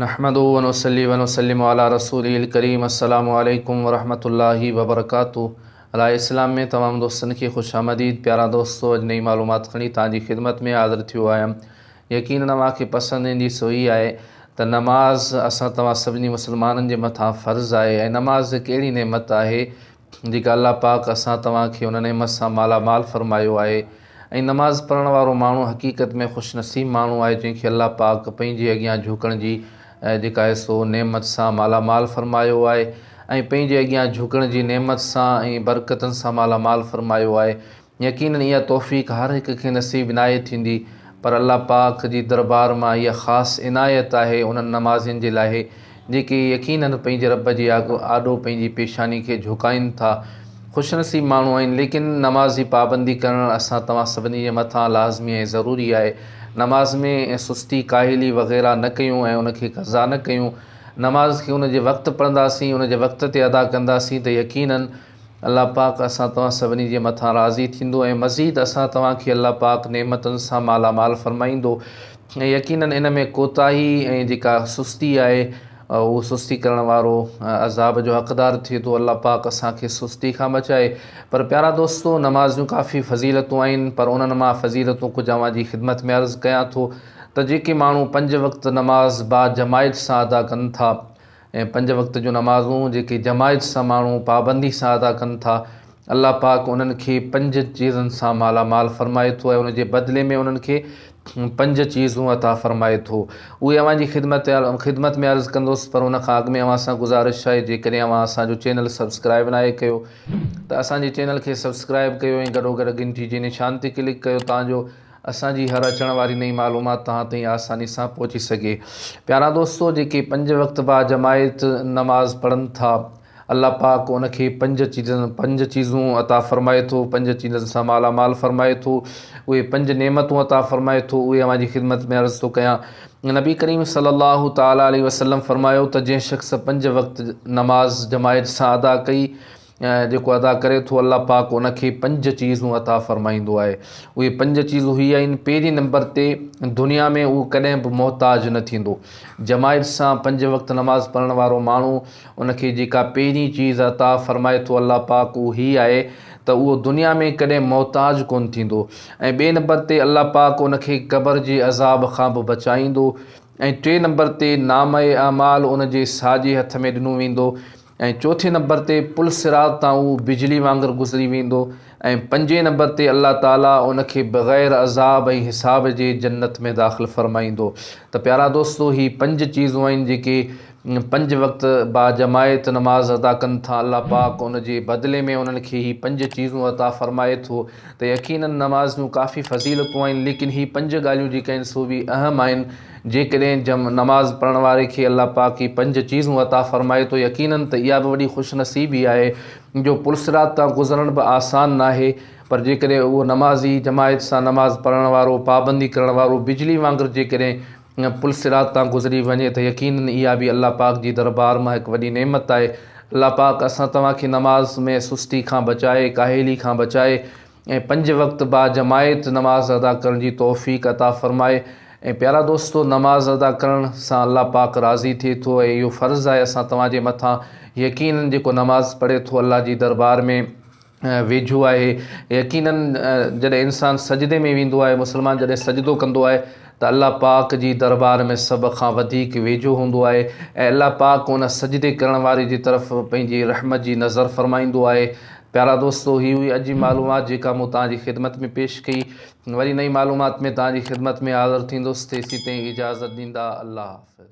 نحمده ونصلي ونسلم علي رسوله الڪريم السلام عليڪم ورحمة الله وبرڪاته راء اسلام ۾ تمام دوستن کي خوش آمديد پيارا دوستو اڄ نئي معلومات کڻي توهان جي خدمت ۾ حاضر ٿيو آهيان يقينن اوهان کي پسند ايندي سو هي آهي ته نماز اسان توهان سڀني مسلمانن جي مٿان فرض آهي ۽ نماز هڪ اهڙي نعمت آهي جيڪا الله پاڪ اسان توهان کي ان نعمت سان مالا مال فرمايو آهي ۽ نماز پڙهڻ وارو ماڻهو حقيقت ۾ خوش نصيب ماڻهو آهي جنهن کي الله پاڪ پنهنجي اڳيان جهڪڻ جي جيڪا آهي سو نعمت سان مالا مال فرمايو آهي ۽ پنهنجي اڳيان جهڪڻ جي نعمت سان ۽ برڪتن سان مالا مال فرمايو آهي يقينن اها توفيق هر هڪ کي نصيب ناهي ٿيندي پر الله پاڪ جي دربار مان اها خاص عنايت آهي انهن نمازين جي لاهي جيڪي يقينن پنهنجي رب جي آڏو پنهنجي پيشاني کي جهڪائين ٿا خوش نصيب ماڻهو آهن ليڪن نماز جي پابندي ڪرڻ اسان توهان سڀني جي مٿان لازمي ۽ ضروري آهي نماز ۾ سستي ڪاهلي وغيره نه ڪيون ۽ ان کي قضا نه ڪيون نماز کي ان جي وقت پڙهنداسين ان جي وقت تي ادا ڪنداسين ته يقينن الله پاڪ اسان توهان سڀني جي مٿان راضي ٿيندو ۽ مزيد اسان توهان کي الله پاڪ نعمتن سان مالا مال فرمائيندو ۽ يقينن ان ۾ ڪوتاهي ۽ جيڪا سستي آهي اهو سستي ڪرڻ وارو عذاب جو حقدار ٿئي ٿو الله پاڪ اسان کي سستي کان بچائي پر پيارا دوستو نمازيون ڪافي فضيلتون آهن پر انهن مان فضيلتون ڪجهه اوهان جي خدمت ۾ عرض ڪيان ٿو ته جيڪي ماڻهو پنج وقت نماز با جماعت سان ادا ڪن ٿا ۽ پنج وقت جون نمازون جيڪي جماعت سان ماڻهو پابندي سان ادا ڪن ٿا الله پاڪ انهن کي پنج چيزن سان مالا مال فرمائي ٿو ۽ ان جي بدلي ۾ انهن کي پنج چيزون عطا فرمائي ٿو اهي اوهان جي خدمت خدمت ۾ عرض ڪندس پر ان کان اڳ ۾ اوهان سان گذارش آهي جيڪڏهن اوهان اسان جو چينل سبسڪرائب ناهي ڪيو ته اسان جي چينل کي سبسڪرائب ڪيو ۽ گڏو گڏ گهنٽي جي نشان تي ڪلڪ ڪيو تان جو اسان جي هر اچڻ واري نئين معلومات توهان تائين آساني سان پهچي سگهي. پيارا دوستو! جيڪي پنج وقت باجماعت نماز پڙهن ٿا، الله پاڪ ان کي پنج چيزن، پنج چيزون، عطا فرمائي ٿو، پنج چيزن سان مالا مال فرمائي ٿو، اهي پنج نعمتون عطا فرمائي ٿو، اهي اوهان جي خدمت ۾ عرض ٿو ڪيان. نبي ڪريم صلّي اللّٰه تعالٰي عليه وسلّم فرمايو ته جنهن شخص پنج وقت نماز جماعت سان ادا ڪئي، ۽ جيڪو ادا ڪري ٿو الله پاڪ ان کي پنج چيزون عطا فرمائيندو آهي اهي پنج چيزون هي آهن پهرين نمبر تي دنيا ۾ اهو ڪڏهن به محتاج نه ٿيندو جماعت سان پنج وقت نماز پڙهڻ وارو ماڻهو ان کي جيڪا پهرين چيز عطا فرمائي ٿو الله پاڪ اهو هي آهي ته اهو دنيا ۾ ڪڏهن محتاج ڪون ٿيندو ۽ ٻئي نمبر تي الله پاڪ ان کي قبر جي عذاب کان به بچائيندو ۽ ٽئين نمبر تي نامه اعمال ان جي ساڄي هٿ ۾ ڏنو ويندو ۽ چوٿين نمبر تي پل صراط تان اهو بجلي وانگر گذري ويندو ۽ پنجين نمبر تي الله تعالي ان کي بغير عذاب ۽ حساب جي جنت ۾ داخل فرمائيندو ته پيارا دوستو هي پنج چيزون آهن جيڪي پنج وقت با جماعت نماز ادا ڪن ٿا الله پاڪ ان جي بدلي ۾ انهن کي هي پنج چيزون عطا فرمائي ٿو ته يقينن نماز جون ڪافي فضيلتون آهن ليڪن هي پنج ڳالهيون جيڪي آهن سو به اهم آهن جيڪڏهن جمع نماز پڙهڻ واري کي الله پاڪ هي پنج چيزون عطا فرمائي ٿو يقينن ته اها به وڏي خوش نصيبي آهي جو پلصراط تان گذرڻ به آسان ناهي پر جيڪڏهن اهو نمازي جماعت سان نماز پڙهڻ وارو پابندي ڪرڻ وارو بجلي وانگر جيڪڏهن پلصراط تان گذري وڃي ته يقينن اها به الله پاڪ جي دربار مان هڪ وڏي نعمت آهي الله پاڪ اسان توهان کي نماز ۾ سستي کان بچائي ڪاهلي کان بچائي ۽ پنج وقت با جماعت نماز ادا ڪرڻ جي توفيق عطا فرمائي ۽ پيارا دوستو نماز ادا ڪرڻ سان الله پاڪ راضي ٿئي ٿو ۽ اهو فرض آهي اسان توهان جي مٿان يقينن جيڪو نماز پڙهي ٿو الله جي دربار ۾ ويجهو آهي يقينن جڏهن انسان سجدي ۾ ويندو آهي مسلمان جڏهن سجدو ڪندو آهي ته الله پاڪ جي دربار ۾ سڀ کان وڌيڪ ويجهو هوندو آهي ۽ الله پاڪ ان سجدي ڪرڻ واري جي طرف پنهنجي رحمت جي نظر فرمائيندو آهي پيارا دوستو هي هئي اڄ جي معلومات جيڪا مون توهان جي خدمت ۾ پيش ڪئي وري نئين معلومات ۾ توهان جي خدمت ۾ حاضر ٿيندس تيسين تائين اجازت ڏيندا الله حافظ.